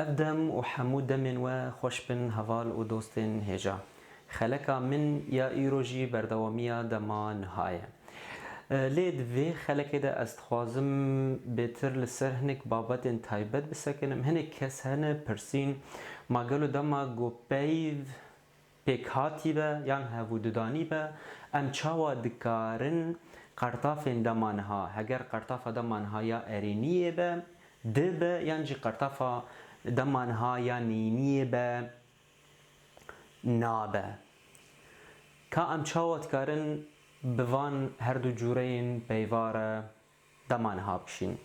Ev dem û hemû demên we xweş bin heval û dostên hêja. Xeleka min ya îro jî berdewamiya dema niha ye. Lê di vê xelekê de ez dixwazim bêtir li ser hinek babetên taybet bisekinim. Hinek kes hene pirsîn, ma gelo dema ku peyv, pêkhatî be yan hevûdidanî be, em çawa dikarin qertafên dema niha, heger qertafa dema niha ya erêniyê be, di be yan jî qertafa dema niha ya nîniyê be, na be. Ka em çawa dikarin bi van herdu cureyên peyva re Dema niha pişîn.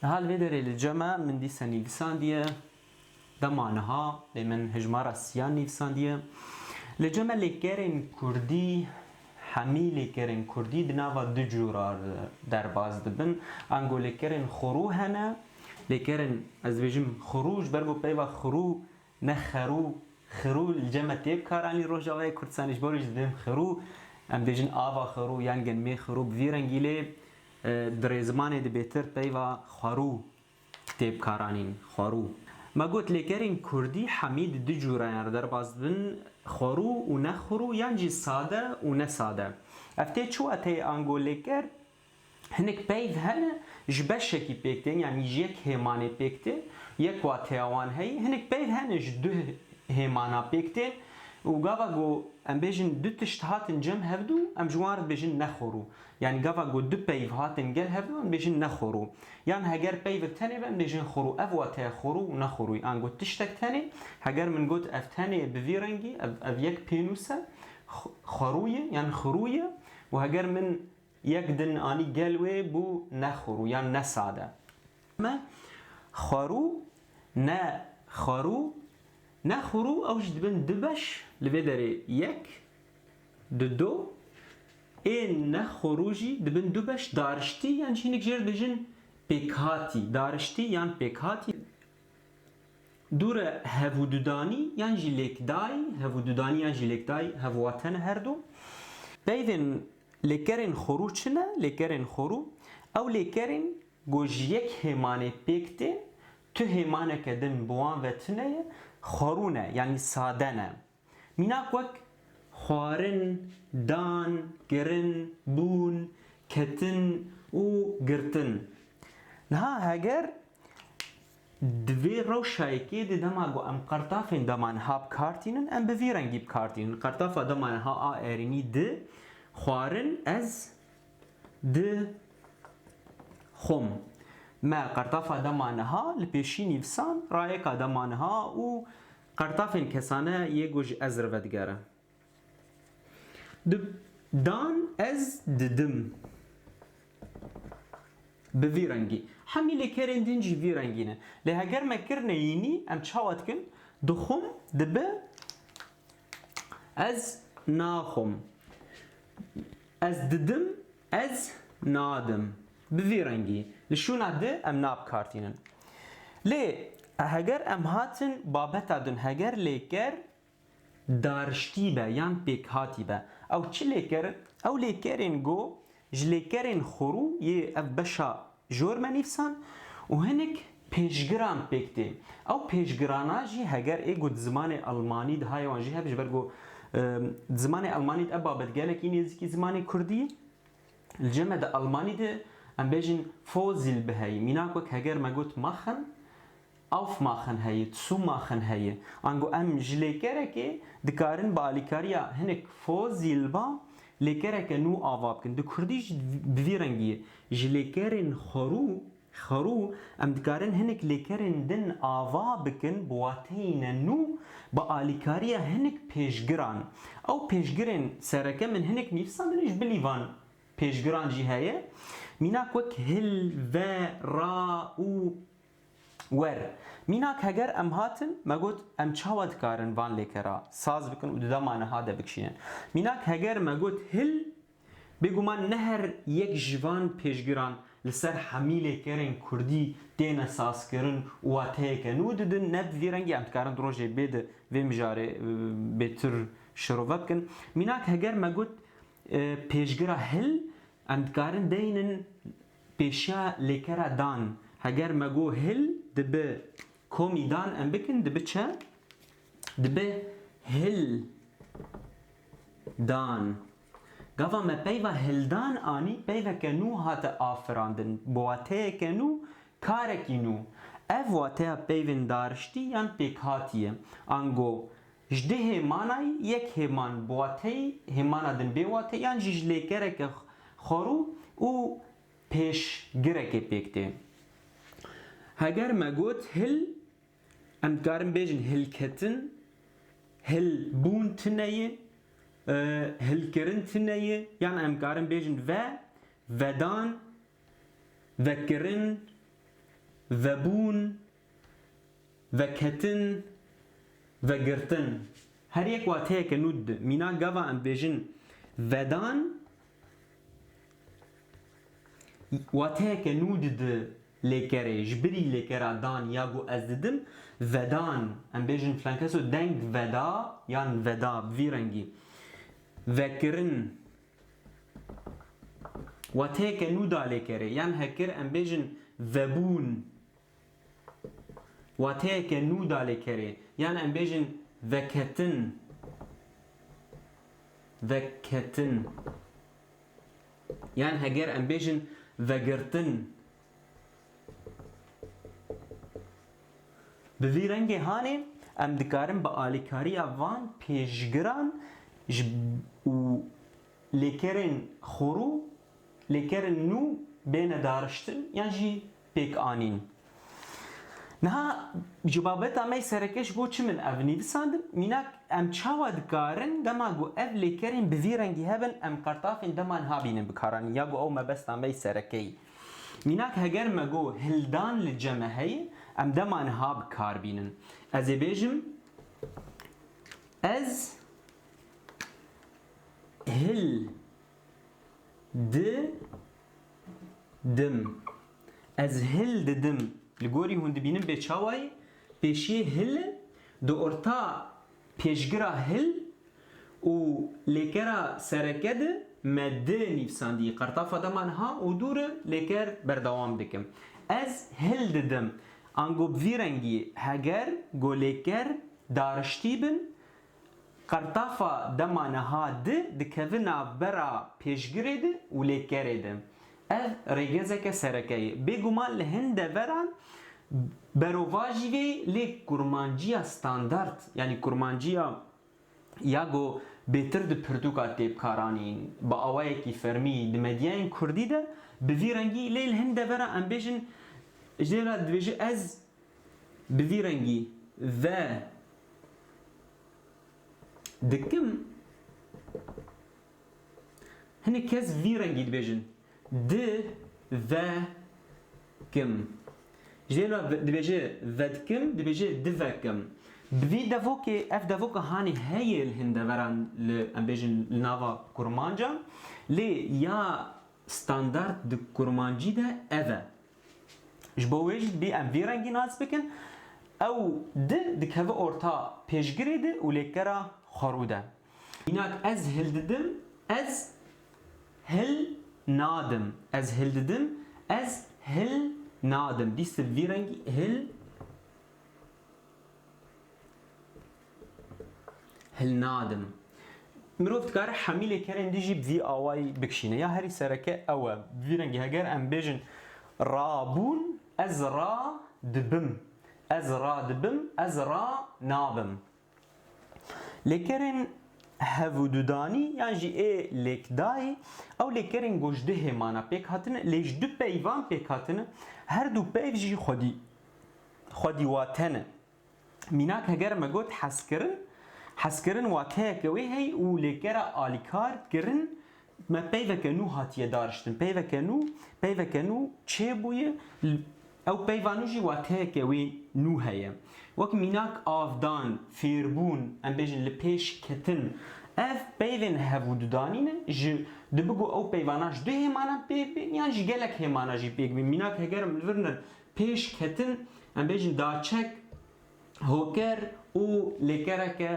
Niha li vê derê li cem e, min dîsa nivîsandiye. Dema niha lê min hejmara siyan nivîsandiye. Li cem e lêkerên kurdî, hemî lêkerên kurdî di nava du cûra de derbas dibin. Ango lêkerên xurû hene, lêkerên ez dibêjim xurû ji ber ku peyva xurû Ne xerû, xirû li cem me tê bikaranîn Rojavayê Kurdistanê. Ji bo rê ji didên xirû em bêjin ava xirû yan genimê xirû. Bi vî rengî lê di rêzimanê di bêtir peyva xwerû tê bikaranîn, xwerû. Me got lêkerên kurdî hemî di du cûreyan re derbas dibin, xwerû û ne xirû yan jî sade û ne sade. Ev tê çi wateyê ango lêker? Hinek peyv hene ji beşekî pêk tên yanî ji yek hêmanê pêk tên yek wateya wan heye. Hinek peyv hene ji du hêmana pêk tên û gava ku em bêjin du tişt hatin cem hevdu em ji wan re dibêjin nexwuru. Yanî gava ku du peyv hatin gel hevdu em dibêjin nexwuru. Yan heger peyvek tenê be em dibêjin xwuru. Ev wateya xwuru û nexwuruyê. An ku tiştek tenê heger min got ev tenê ye bi vî rengî ev ev yek pênûs e xwerû ye yan xirû ye û heger min Yek din anî gel wê bû ne xwerû yan ne sade. Me xwerû ne xwerû ne xwerû ew jî dibin du beş li vê derê yek du do ê ne xwerû jî dibin du beş dariştî yan jî hinek jê re dibêjin pêkhatî dariştî yan pêkhatî du re hevûdudanî yan jî lêkdayî hevûdudanî yan jî lêkdayî hevwate ne her du peyvên Lêkerên xorû çi ne? Lêkerên xorû, ew lêkerên ku ji yek hêmanê pêk tên, tu hêmaneke din bi wan ve tune ye, xorû ne, yanî sade ne. Mînak wek, xwarin, dan, kirin, bûn, ketin û girtin. Niha heger. Di vê rewşayekê de dema ku em qertafên dema niha bikartînin, em bi vî rengî bikartînin, qertafa dema niha a erênî di xwarin ez di xwom, me qertafa dema niha li pêşî nîvisan rayeka dema niha û qertafên kesane yê ku ji ez re vedigerin. Di dan ez didim. Bi vî rengî. Hemî lêkerên din jî vî rengî ne. Lê heger me kirine yînî em çawa dikin? Dixwim dibe ez naxwim. Ez didim ez nadim. Bi vî rengî. Li şûna di em nabikartînin. Lê heger em hatin babeta din heger lêker Dariştî be yan pêkhatî be ew çi lê kir? Ew lê kerên go ji lêkerên xorû yê ev beşa jor me nîvsan û hinek pêşgiran pêk tê. Ew pêşgirana jî heger ê ku di zimanê elmanî di haye wan jî hebe ji ber ku di zimanê elmanî di ev babet gelekî nêzîkî zimanê kurdî li cem e di elmanî di em bêjin Fozil biheyî mînak wek heger me got machen Aufmachen heye, zumachen heye. Ango em ji lêkerekê dikarin bi alîkariya hinek fozîl ba lêkereke nû ava bikin. Di kurdî jî bi vî rengî ye. Ji lêkerên xwerû, xwerû, em dikarin hinek lêkerên din ava bikin bi wateyîne nû bi alîkariya hinek pêşgiran. Ew pêşgirên sereke min hinek nivîsa min ji bilî van pêşgiran jî heye. Mînak wek hil, ve, ra, û, Wer, mînak heger em hatin, me got em çawa dikarin van lêkera saz bikin û di dema niha de bikişînin. Mînak heger me got hil, bêguman ne her yek ji van pêşgiran li ser hemî lêkerên kurdî têne sazkirin û wateyeke nû didin, ne bi vî rengî em dikarin di rojê bê de vê mijarê bêtir şirove bikin. Mînak heger me got pêşgira hil, em dikarin deynin Pêşiya lêkera dan, heger me got hil dibi komî dan em bikin dibi çi? Dibi hil dan. Gava me peyva hildan anî peyveke nû hate afirandin, bi wateyeke nû, karekî nû. Ev wateya peyvên dariştî yan pêkhatî ye. Ango Ji du hêmanayî yek hêman bi wateyî, hêmana din bê wateyî yan jî ji lêkereke xwerû û pêşgirekê pêk tê. Heger me got hil, em dikarin bêjin hilketin, hilbûn tune ye, hilkirin tune ye yan em dikarin bêjin ve, vedan, vekirin, vebûn, Veketin, vegirtin, her yek wateyeke nû dide. Mîna gava em dibêjin vedan wateyeke nû dide lêkerê, ji birî lêkera dan ya ku ez didim, vedan, em bêjin filan keso deng veda yan veda bi vî rengî. Vekirin, wateyeke nû da lêkerê, yan hekir em bêjin vebûn. Wateyeke nû da lê kerê. Yan em bêjin veketin, veketin. Yan heger em bêjin vegirtin. Bi vî rengê hanê em dikarin bi alîkariya van pêşgiran ji û lêkerên xorû, lêkerên nû bêne dariştin yan jî pêk anîn. Niha ji babeta me serekeş got çi min ev nivîsandim, mînak em çawa dikarin dema ku ev lêkerên bi vî rengî hebin em qertaxên dema niha bînin bi karanî ya ku ew mebesta me yê serekeyî. Mînak heger me got hildan li ce me heye em dema niha bi kar bînin. Ez ê bêjim ez hil. Di dim. Ez hil didim. Li gorî hûn dibînin bê çawayî, pêşiyê hil e, di orta pêşgira hil û lêkera sereke de me di nîvsandî. Qertafa dema niha û dûr e, lêker berdewam dikim. Ez hil didim. Ango bi vî rengî, heger ku lêker dariştî bin, Qertaxa dema niha di dikeve navbera pêşgirê di û lêkerê di. Ev rêgezeke sereke ye. Bêguman li hin deveran berovajî vê lê kurmanciya standard yanî kurmanciya ya ku bêtir di pirtûka têbkaran yên bi awayekî fermî di medyayên kurdî de bi vî rengî lê li hin devera em bêjin ji lê re dibêje ez Bi vî rengî ve dikim. Hinek kes vî rengî dibêjin. Di ve kim. Ji dê re dibêje vedikim, dibêje di ve kim. Bi vî devokê, ev devoka hanê heye li hin deveran li em bêjin li nava kurmancan. Lê ya Standard di kurmancî de ev e. Ji bo wê jî dibî em vî rengî nas bikin, ew di dikeve orta pêşgirê di û lêkera xwerû de. Mînak ez hil didim, ez hil nadim. Ez hil didim, ez hil nadim. Dîs di vî rengî hil. Hilnadim. Mirov dikare hemîlê kerên dî jî bi vî awayî bikişîne. Ya herî sereke ew e. Bi vî rengî heger em bêjin rabûn, ez ra dibim, ez ra dibim, ez ra nabim. Lê kerên hevûdudanî yan jî ê lêkdayî ew lê kerên gojdihê mana pêk hatine lê ji du peyvan pêk hatine, her du peyv jî xwedî xwedî wa te ne. Mînak heger me got hezkirin, hezkirin wateyeke wê hey û lêkera alîkar kirin me peyveke nû hatiye dariştin, peyveke nû, peyveke nû çêbûye li ew peyva nû jî wateyeke wê nû heye. Wek mînak avdan, fêrbûn, em bêjin li pêş ketin. Ev peyvên hevûdudanî ne, ji dibigo ew peyvana ji du hêmanan pêk bên yan ji gelek hêmana jî pêk bên. Mînak heger em li vir ne Pêş ketin em bêjin daçek, hoker û lêkereke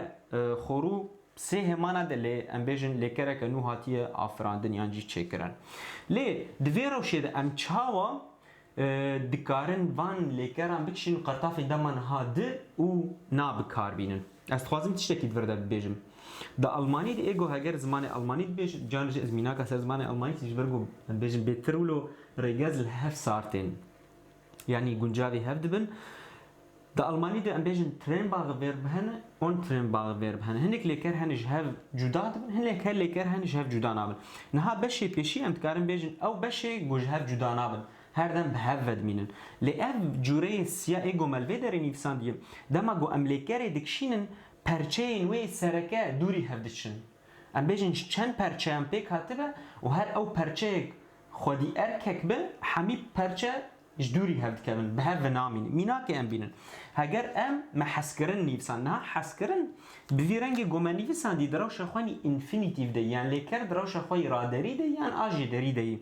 xorû sê hêmana de lê em bêjin lêkereke nû hatiye afirandin yan jî çêkirin. Lê di vê rewşê de em çawa dikarin van lêkeran bikişînin qertafên dema niha di û na bikar bînin? Ez dixwazim tiştekî di vir de bibêjim. Di almanî de êgo heger zimanê almanî dibêj, carê ji ez mînaka ser zimanê almanî tî ji ber ku em bêjin bêtir wilo rêgez li hev sar tên. Yanî guncavî hev dibin. Di almanî de em bêjin Tränbaare Verb hene und Tränbare Verb hene. Hinek lêker hene ji hev cuda dibin, hinek her lêker hene ji hev cuda nabin. Niha beşê pêşî em dikarin bêjin ew beşê ku ji hev cuda nabin. Her dem bi hev vedimînin. Lê ev cûreyê siya ê Gomel vê derê nivîsandiye. Dema ku em lêkerê dikişînin perçeyên wê sereke dûrî hev diçin. Em bêjin ji çend perçeyan pêk hatibe û her ew perçeyek xwedî erkek be hemî perçe ji dûrî hev dikevin, bi hev ve namînin. Mînakê em bînin. Heger em me hezkirin nivîsan. Niha hezkirin. Bi vî rengê gomenivîsan dî di rewşa xwe nî înfînîtîv de yî yan lê ker di rewşa xwe yî raderî de yî yan a jê derî de yî.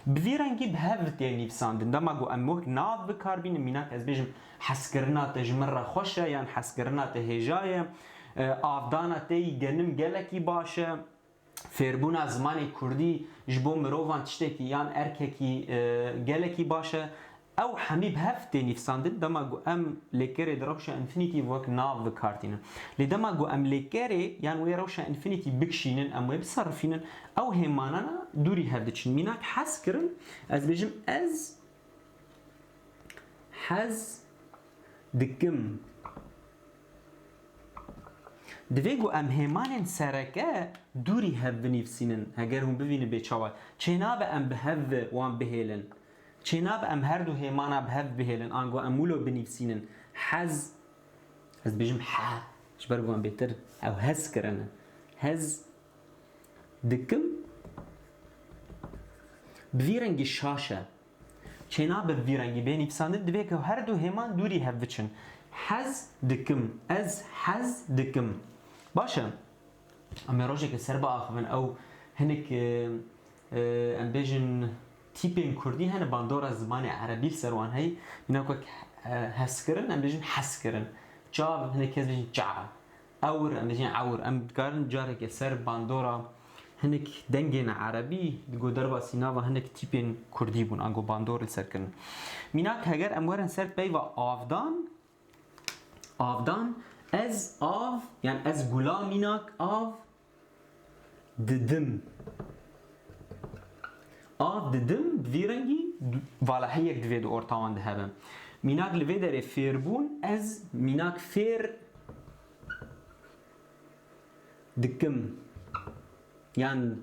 Bi vî rengî bi hev li tê nivîsandin. Dema ku em wek nav bi kar bînin mînak ez bêjim heskirina te ji min re xweş e yan heskirina te hêja ye, avdana te yî genim gelekî baş e, Fêrbûna zimanê kurdî ji bo mirovan tiştekî yan erkekî gelekî baş e. Ew hemî bi hev tê nîvsandin, dema ku em lêkerê di rewşa înfînîtîv wek nav vikartînin. Lê dema ku em lêkerê yan wê rewşa înfînîtî bikişînin, em wê biserifînin, ew hêmanan a dûrî hev diçin. Mînak hez kirin, ez dibêjim ez hez dikim. Divê ku em hêmanên sereke dûrî hev binivsînin, heger hûn bivînibê çawa, çênabe em bi hev ve wan bihêlin. Çênabe em her du hêmana bi hev bihêlin, ango em wilo binivsînin, hez, ez dibêjim he, ji ber ku wan bêtir ew hez kirine, hez dikim bi vî rengî şaş e. Çêna bi vî rengî bê nîpsandin divê ku her du hêman dûrî hev biçin. Hez dikim, ez hez dikim. Baş e. Em ê rojekê ser biaxivin ew hinek em bêjin tîpên kurdî hene bandora zimanê erebî li ser wan heye. Mîna ku hezkirin em bêjin hezkirin. Çav hinek kes bêjin çav. Ewr, em dijîn ewr. Em dikarin careke ser bandora hinek dengên erebî di go derbasî nava hinek tîpên kurdî bûn ango bandor li ser kirin. Mînak heger em werin ser peyva avdan, avdan, ez av yan ez gula mînak av, Didim. A didim bi vî rengî valahiyek divê di orta wan de hebe. Mînak li vê derê fêrbûn ez mînak fêr dikim yan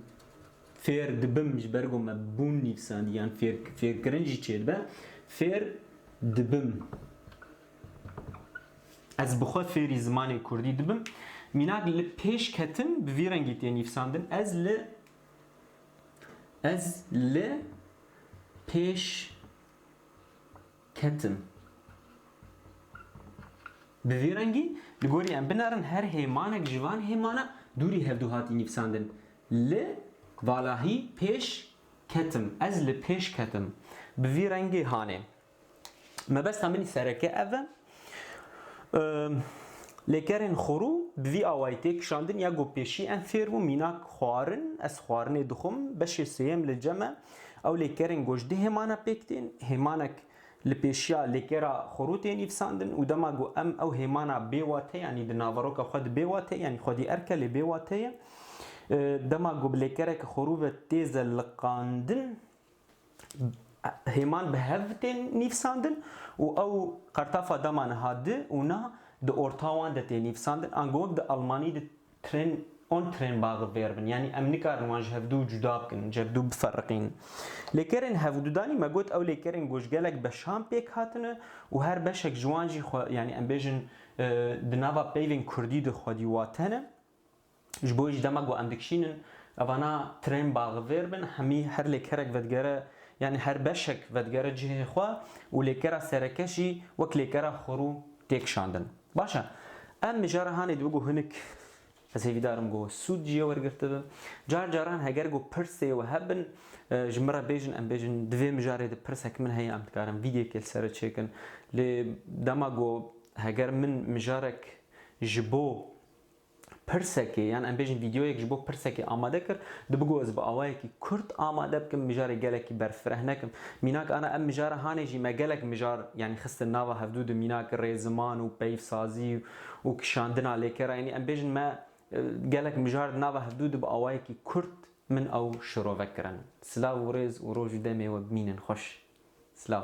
fêr dibim ji ber ku me bûn nivîsandî yan fêrkirin jî çêdibe fêr dibim. Ez bi xwe fêrî zimanê kurdî dibim. Mînak li pêşketin bi vî rengî tê nîvsandin, ez li ez li pêş ketim. Bi vî rengî li gorî em binerin her hêmanek ji van hêmana dûrî hevdû hatî nîvsandin. Li valahî pêş ketim, ez li pêş ketim. Bi vî rengê hanê. Mebesta min sereke ev e. Lê kerên xorû bi vî awayî tê kişandin ya ku pêşî em fêr bûn mînak xwarin, ez xwarinê dixwim, beşê sêyem li cem e. Ew lêkerên ku ji du hêman e pêk tên. Hêmanek li pêşiya lêkera xorû tê nivîsandin û dema ku em ew hêmana bêwate yanî di naveroka xwe di bêwate yanî xwedî erk e lê bêwate ye. Dema ku bi lêkereke xorû ve tê zeliqandin hêman bi hev tên nîvsandin û ew qertafa dema niha di û na di orta wan de tê nîvsandin ango wek di almanî de Tren und Trenbahn fêr bin yanî em nikarin wan ji hevdu cuda bikin ji hevdu biferiqîn. Lêkerên hevdudanî me got ew lêkerên ku ji gelek beşan pêk hatine û her beşek ji wan jî xwe yanî em bêjin di nava peyvên kurdî de xwedî wate ne. Ji bo jî dema ku em dikişînin evana trên bexivêr bin hemî her lêkerek vedigere yanî her beşek vedigere cihê xwe û lêkera sereke jî wek lêkera xurû tê kişandin. Baş e. Em mijara hanê dibe ku hinik ez hêvîdar im ku sûd jî wergirtibe. Car caran heger ku pirsê we hebin ji min re bêjin em bêjin di vê mijarê de pirsek min heye em dikarin vîdyekê li ser re çêkin. Lê dema ku heger min mijarek ji bo pirsekê yan em bêjin vîdeoyek ji bo pirsekê amade kir, dibe ku ez bi awayekî kurt amade bikim, mijarê gelekî berfireh nekim. Mînak ana em mijara hanê jî me gelek mijar yanî xistin nava hevdû di mînaki rê ziman û peyvsazî û kişandina lêkera yanî em bêjin me gelek mijar di nava hevdû di bi awayekî kurt min ew şirove kirin. Silav û rêz û roj û demê we bimînin xweş. Silav.